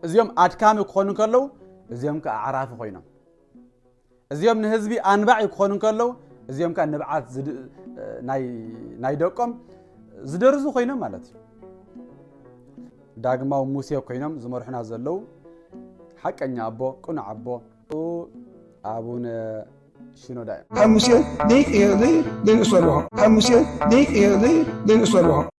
እዚኦም ኣድካሚ ክኾኑ ከለዉ እዚኦም ከኣ ኣዕራፊ ኮይኖም እዚኦም ንህዝቢ ኣንባዒ ክኾኑ ከለዉ እዚኦም ከኣ ንብዓት ናይ ደቆም ዝደርዙ ኮይኖም ማለት እዩ ዳግማዊ ሙሴ ኮይኖም ዝመርሑና ዘለዉ ሓቀኛ ኣቦ ቅኑዕ ኣቦ ኣቡነ ሽኖዳ እዮም ካብ ሙሴ ዘይቅየር ዘይንእሰልዎ ካብ ሙሴ ዘይቅየር ዘይንእሰልዎ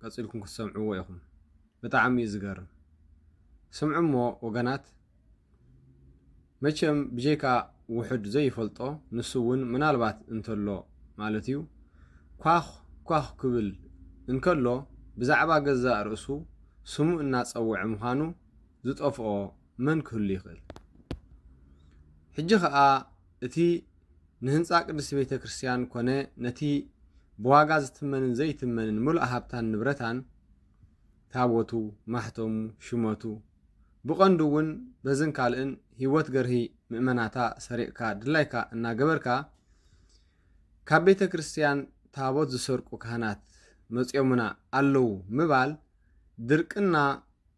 ቀጺልኩም ክትሰምዕዎ ኢኹም ብጣዕሚ እዩ ዝገርም ስምዑ እሞ ወገናት መቸም ብጀይካ ውሑድ ዘይፈልጦ ንሱ ውን ምናልባት እንተሎ ማለት እዩ ኳኽ ኳኽ ክብል እንከሎ ብዛዕባ ገዛእ ርእሱ ስሙ እናጸውዐ ምዃኑ ዝጠፍኦ መን ክህሉ ይኽእል ሕጂ ከኣ እቲ ንህንጻ ቅድስቲ ቤተ ክርስቲያን ኰነ ነቲ ብዋጋ ዝትመንን ዘይትመንን ምሉእ ሃብታን ንብረታን፣ ታቦቱ፣ ማሕተሙ፣ ሹመቱ፣ ብቐንዱ እውን በዝን ካልእን ህይወት ገርሂ ምእመናታ ሰሪቕካ ድላይካ እናገበርካ ካብ ቤተ ክርስቲያን ታቦት ዝሰርቁ ካህናት መጺኦምና ኣለዉ ምባል ድርቅና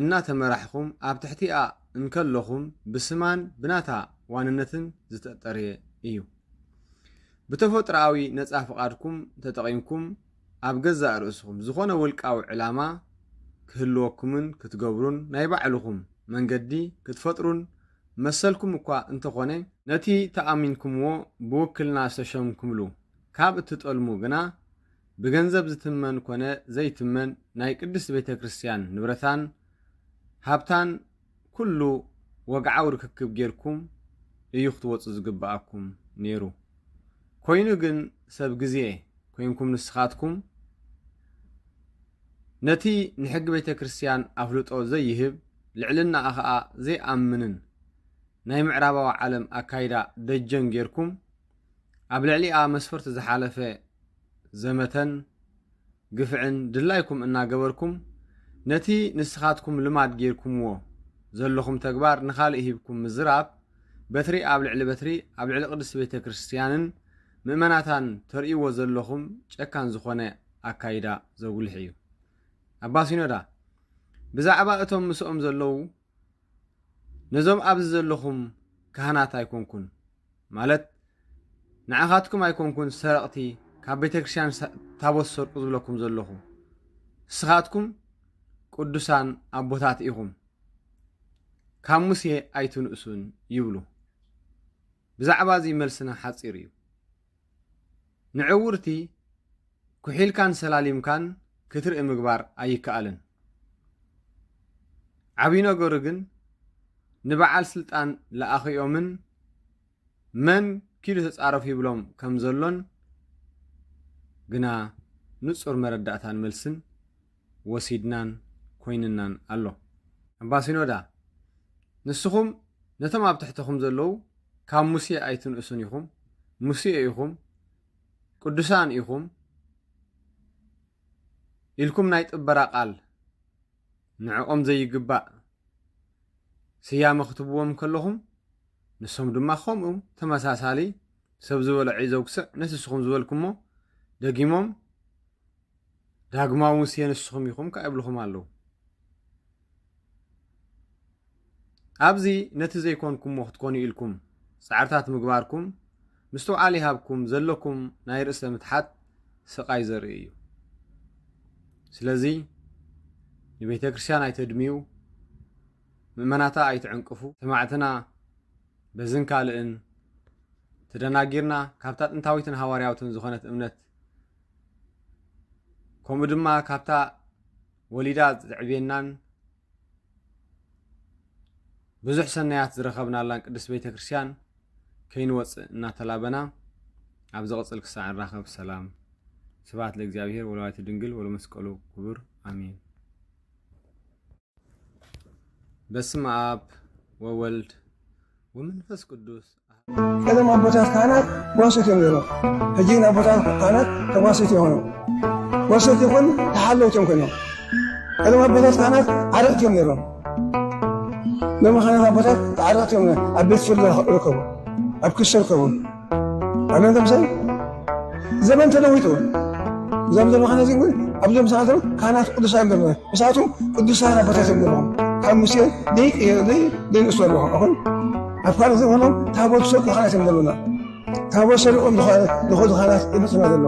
እናተመራሕኹም ኣብ ትሕቲኣ እንከለኹም ብስማን ብናታ ዋንነትን ዝተጠርየ እዩ። ብተፈጥሮኣዊ ነጻ ፍቓድኩም ተጠቒምኩም ኣብ ገዛእ ርእስኹም ዝኾነ ውልቃዊ ዕላማ ክህልወኩምን ክትገብሩን ናይ ባዕልኹም መንገዲ ክትፈጥሩን መሰልኩም እኳ እንተኾነ፣ ነቲ ተኣሚንኩምዎ ብውክልና ዝተሸምኩምሉ ካብ እትጠልሙ ግና ብገንዘብ ዝትመን ኮነ ዘይትመን ናይ ቅድስት ቤተ ክርስቲያን ንብረታን ሃብታን ኩሉ ወግዓዊ ርክክብ ጌርኩም እዩ ክትወጹ ዝግብኣኩም ኔሩ ኮይኑ ግን ሰብ ግዜ ኮንኩም ንስኻትኩም ነቲ ንሕጊ ቤተ ክርስቲያን ኣፍልጦ ዘይህብ ልዕልናኣ ከኣ ዘይኣምንን ናይ ምዕራባዊ ዓለም ኣካይዳ ደጀን ጌርኩም ኣብ ልዕሊኣ መስፈርቱ ዝሓለፈ ዘመተን ግፍዕን ድላይኩም እናገበርኩም ነቲ ንስኻትኩም ልማድ ጌርኩምዎ ዘለኹም ተግባር ንኻልእ ሂብኩም ምዝራብ በትሪ ኣብ ልዕሊ በትሪ ኣብ ልዕሊ ቅድስቲ ቤተ ክርስቲያንን ምእመናታን ተርእይዎ ዘለኹም ጨካን ዝኾነ ኣካይዳ ዘጉልሕ እዩ። ኣባ ሲኖዳ ብዛዕባ እቶም ምስኦም ዘለዉ ነዞም ኣብዚ ዘለኹም ካህናት ኣይኮንኩን ማለት ንዓኻትኩም ኣይኮንኩን ሰረቕቲ ካብ ቤተክርስትያን ታቦት ሰርቁ ዝብለኩም ዘለኹ ንስኻትኩም ቅዱሳን ኣቦታት ኢኹም ካብ ሙሴ ኣይትንእሱን ይብሉ ብዛዕባ እዚ መልስና ሓጺር እዩ። ንዕውርቲ ኩሒልካን ሰላሊምካን ክትርኢ ምግባር ኣይከኣልን። ዓብይ ነገሩ ግን ንበዓል ስልጣን ለኣኺኦምን መን ኪዱ ተጻረፉ ይብሎም ከምዘሎን ግና ንጹር መረዳእታን መልስን ወሲድናን ኮይንናን ኣሎ። ኣባ ሲኖዳ ንስኹም ነቶም ኣብ ትሕተኹም ዘለዉ ካብ ሙሴ ኣይትንእሱን ኢኹም፣ ሙሴ ኢኹም፣ ቅዱሳን ኢኹም ኢልኩም ናይ ጥበራ ቃል ንዕኦም ዘይግባእ ስያመ ክትብዎም ከለኹም ንሶም ድማ ከምኡ ተመሳሳሊ ሰብ ዝበሎ ዒዘው ክስዕ ነቲ ንስኹም ዝበልኩሞ ደጊሞም ዳግማዊ ሙሴ ንስኹም ኢኹም ከኣ ይብልኹም ኣለዉ። ኣብዚ ነቲ ዘይኮንኩምዎ ክትኮኑ ኢልኩም ጻዕርታት ምግባርኩም ምስትውዓል ይሃብኩም ዘለኩም ናይ ርእሰ ምትሓት ስቓይ ዘርኢ እዩ። ስለዚ ንቤተ ክርስቲያን ኣይተድምዩ፣ ምእመናታ ኣይትዕንቅፉ። ሰማዕትና በዝን ካልእን ተደናጊርና ካብታ ጥንታዊትን ሃዋርያዊትን ዝኾነት እምነት ከምኡ ድማ ካብታ ወሊዳ ዘዕብየናን ብዙሕ ሰናያት ዝረኸብናላን ቅድስት ቤተ ክርስቲያን ከይንወፅእ እናተላበና ኣብ ዝቕፅል ክሳዕ ንራኸብ ሰላም ስብሐት ለእግዚኣብሔር ወለወላዲቱ ድንግል ወለመስቀሉ ክቡር ኣሜን። በስመ አብ ወወልድ ወመንፈስ ቅዱስ ቀደም አቦታት ካህናት ጓሶት እዮም ነይሮም ሕጂ ግን ኣቦታት ካህናት ተጓሶት የሆኑ ጓሶት ይኹን ተሓለውት እዮም ኮይኖም ቀደም ኣቦታት ካህናት ዓረቕቲ እዮም ነይሮም ሎሚ ካህናት ኣቦታት ተዓረቕቲ እዮም ኣብ ቤት ፍርዲ ይርከቡ ኣብ ክሲ ይርከቡ ኣመንቶም ሰብ ዘመን ተለዊጡ እዞም ዘሎ ካህናት ግን ኣብዞም ሰዓት ካህናት ቅዱሳን ዘሎ ንሳቱ ቅዱሳን ኣቦታት ዘለዎም ካብ ሙሴ ዘይንእሱ ኣለኹ ኣኹን ኣብ ካልእ ዝኾኑ ታቦት ሰ ካህናት እዮም ዘሎና ታቦት ሰሪቆም ዝኸዱ ካህናት ይመፅና ዘሎ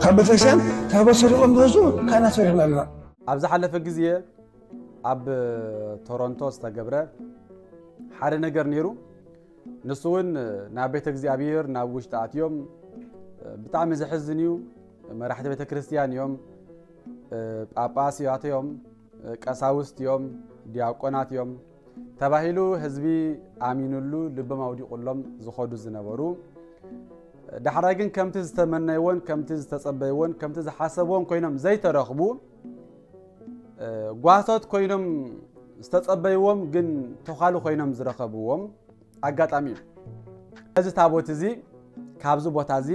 ካብ ቤተክርስትያን ታቦት ሰሪቆም ዝወፁ ካህናት ሰሪሕና ኣለና ኣብ ዝሓለፈ ግዜ ኣብ ቶሮንቶ ዝተገብረ ሓደ ነገር ነይሩ ንሱ እውን ናብ ቤተ እግዚኣብሔር ናብ ውሽጢ ኣትዮም ብጣዕሚ ዘሕዝን እዩ መራሕቲ ቤተ ክርስቲያን እዮም ጳጳስ እያት እዮም ቀሳውስት እዮም ዲያቆናት እዮም ተባሂሉ ህዝቢ ኣሚኑሉ ልቦም ኣውዲቑሎም ዝኸዱ ዝነበሩ ዳሕራይ ግን ከምቲ ዝተመነይዎን ከምቲ ዝተጸበይዎን ከምቲ ዝሓሰብዎን ኮይኖም ዘይተረኽቡ ጓህቶት ኮይኖም ዝተጸበይዎም ግን ተዃሉ ኮይኖም ዝረኸብዎም ኣጋጣሚ እዩ እዚ ታቦት እዚ ካብዚ ቦታ እዚ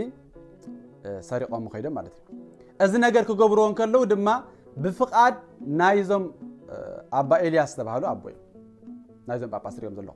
ሰሪቖም ከይዶም ማለት እዩ እዚ ነገር ክገብርዎ እንከለዉ ድማ ብፍቓድ ናይዞም ኣባ ኤልያስ ዝተባሃሉ ኣቦ እዩ ናይዞም ጳጳስ ሪኦም ዘለኹ